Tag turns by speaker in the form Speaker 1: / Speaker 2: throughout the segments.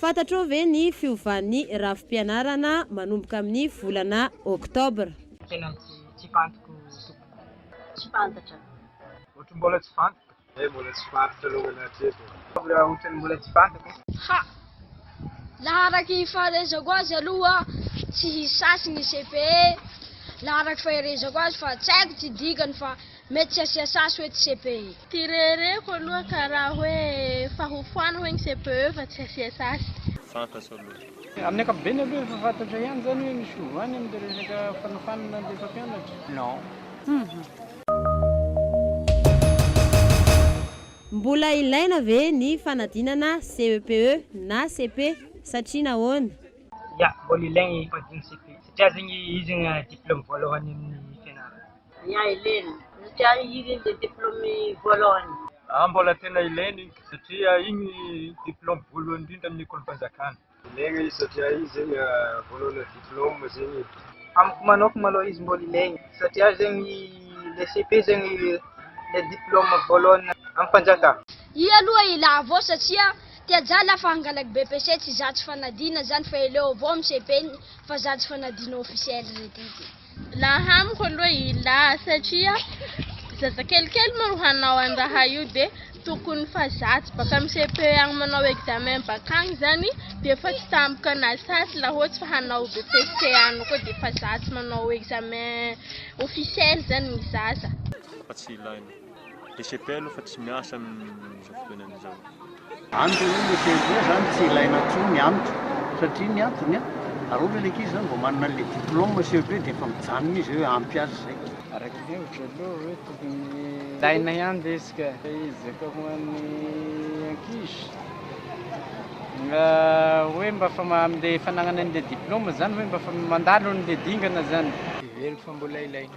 Speaker 1: Fantatrao ve ny fiovan'ny rafi-pianarana manomboka amin'ny volana Oktobra? Tena tsy tsy fantiko
Speaker 2: tompoko. Tsy
Speaker 3: fantatra. Ohatry ny mbola
Speaker 2: tsy fantatra. Ee mbola tsy fantatra alongany hatreto e. Oktobra ohatry ny mbola tsy fantako. Ha!
Speaker 4: Laha araky ny fahaizako azy aloha tsy hisy sasy ny CPE laha araky faherezako azy fa tsy haiko tsy dikany fa. Mety tsy asia sasy hoe tsy CPE. Ty rereko
Speaker 5: aloha karaha hoe fa ho foana hoe ny CPE fa tsy asia sasy. Fantatro aloha.
Speaker 6: Amin'ny ankapobeny aloha efa
Speaker 7: fantatra ihany izany hoe misy fiovany amin'ilay resaka fanofanana ilay mpampianatra? Non.
Speaker 1: Mbola ilaina ve ny fanadinana CEPE na cepe satria nahoana? Ya, mbola
Speaker 2: ilaigny ny fanadinana CEPE satria zegny izy no diploma voalohany amin'ny fianarana. Ny ahy lena
Speaker 3: satria ahy iny ilay diplôme voalohany. Ahy mbola tena
Speaker 6: ilaina iny satria iny diplôme voalohany indrindra amin'ny ekolim-panjakana. Ilaina izy satria iny zegny voalohana diplôme zegny e. Amiko manokana
Speaker 2: malôha izy mbola ilaigny satria zegny le cepe zegny le diplôme voalohany amim-panjakana. Ihy aloha ila
Speaker 4: avao satria ty ajà la fa hangalaky BEPC tsy za tsy fanadina zany fa ileo avao amin'ny cepe-ny fa za tsy fanadina officiel re ty ty. Laha amiko
Speaker 5: aloha ilah satria zazakelikely moa ro hanao any raha io dia tokony fa zatsy baka amin'ny cepe any manao examen baka any zany dia efa tsy tampoka na satsy laha ohatsy fa hanao BEPC any koa dia efa zatsy manao examen officiel zany ny zaza.
Speaker 6: Lesepelle fa tsy miasa amin'izao fotoana izao. Any dia hoe
Speaker 8: lesepelle izany tsy ilaina intsony ny antony satria ny antony a! raha ohatra ilay ankizy izany vao manana an'ilay diplôme CEP dia efa mijanona izy hoe ampy azy izay. Araka ny hevitro
Speaker 7: aloha hoe tokony ilaina ihany ve izy ka? Ezaka ho an'ny ankizy mba hoe mba fa amin'ilay fanagnana an'ilay diplôme izany hoe mba fa mandalo an'ilay dingana izany. Heveriko fa mbola
Speaker 2: ilaina.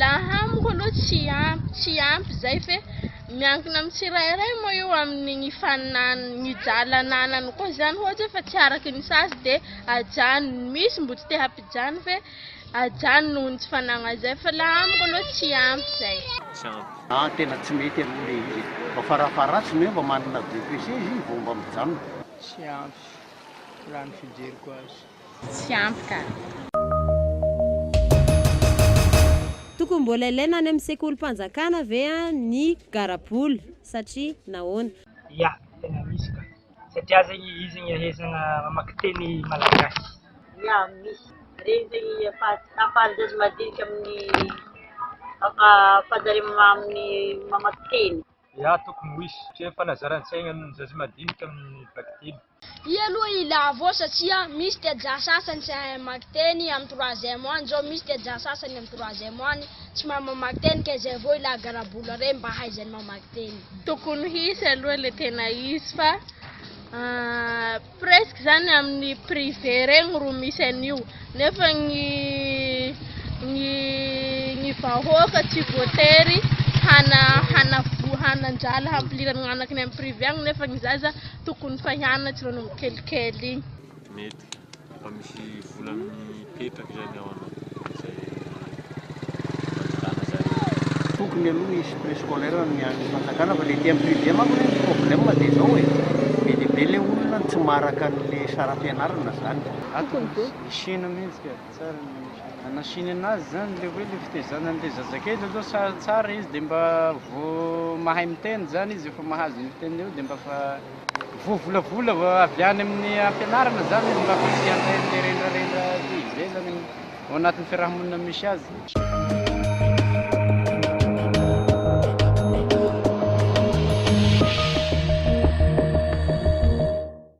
Speaker 5: Laha amiko aloha tsy ampy, tsy ampy izay fe miankina amin'ny tsirairay moa io amin'ny hifaninanany, mijaly ananany koa izany ohatra hoe fa tsy araka ny sazy dia ajanony, misy mbola tsy te hampijaly fe ajanony noho ny tsy fananany izay fa laha amiko aloha tsy ampy izay. Tsy ampy. Aah
Speaker 6: tena tsy mety aloha le
Speaker 8: izy e! Mba farafaharatsiny hoe mba manana BEPC izy vao mba mijanona. Tsy ampy,
Speaker 7: raha ny fijeriko azy. tsy ampy ka.
Speaker 1: Tokony mbola ilaina any amin'ny sekolim-panjakana ve ny garabola satria nahoana? Ya, tena
Speaker 2: misy ka. Satria zegny izy igny ahaizagna mamaky teny malagasy. Ya, misy.
Speaker 3: Regny zegny ahafahan-jaza madinika amin'ny ahafahan-jareo amin'ny mamaky teny. Ya, tokony ho
Speaker 6: hisy satria fanazaran-tsaigna ny zaza madinika amin'ny vakiteny. I aloha i
Speaker 4: Lavo satria misy tja sasany tsy hahay mamaky teny am troisième any zao misy tja sasany am troisième any tsy mahay mamaky teny ka izay vao ilay garabola reny mba hahaizany mamaky teny. Tokony hisy
Speaker 5: aloha le tena izy fa presque zany aminy privé regny ro misy an'io nefa gny gny gny vahoaka tsy voatery hana hanavoa hanandrala hampilira ny gnanakiny am privé agny nefa gny zaza Tokony fa ianona tsy rano kelikely igny. Mety
Speaker 6: fa misy vola mipetraka zany ao anao zay anjotana zany.
Speaker 8: Tokony aloha hisy prescolaire amin'ny an'ny fanjakana fa le ety am privé manko le ny problème de zao e, be de be le olona tsy maraka anle saram-pianarana zany. Raha tokony hisy
Speaker 7: hena mintsy ka. Tsara ny anasina. Anasina anazy zany le hoe le fitezana anle zazakely aloha sa tsara izy de mba vo mahay miteny zany izy efa mahazo ny teniny eo de mba fa vo volavola avy any amin'ny ampianarana zany izy mba fa tsy anle mirendrarendra be be zany ao anatin'ny fiarahamonina misy azy.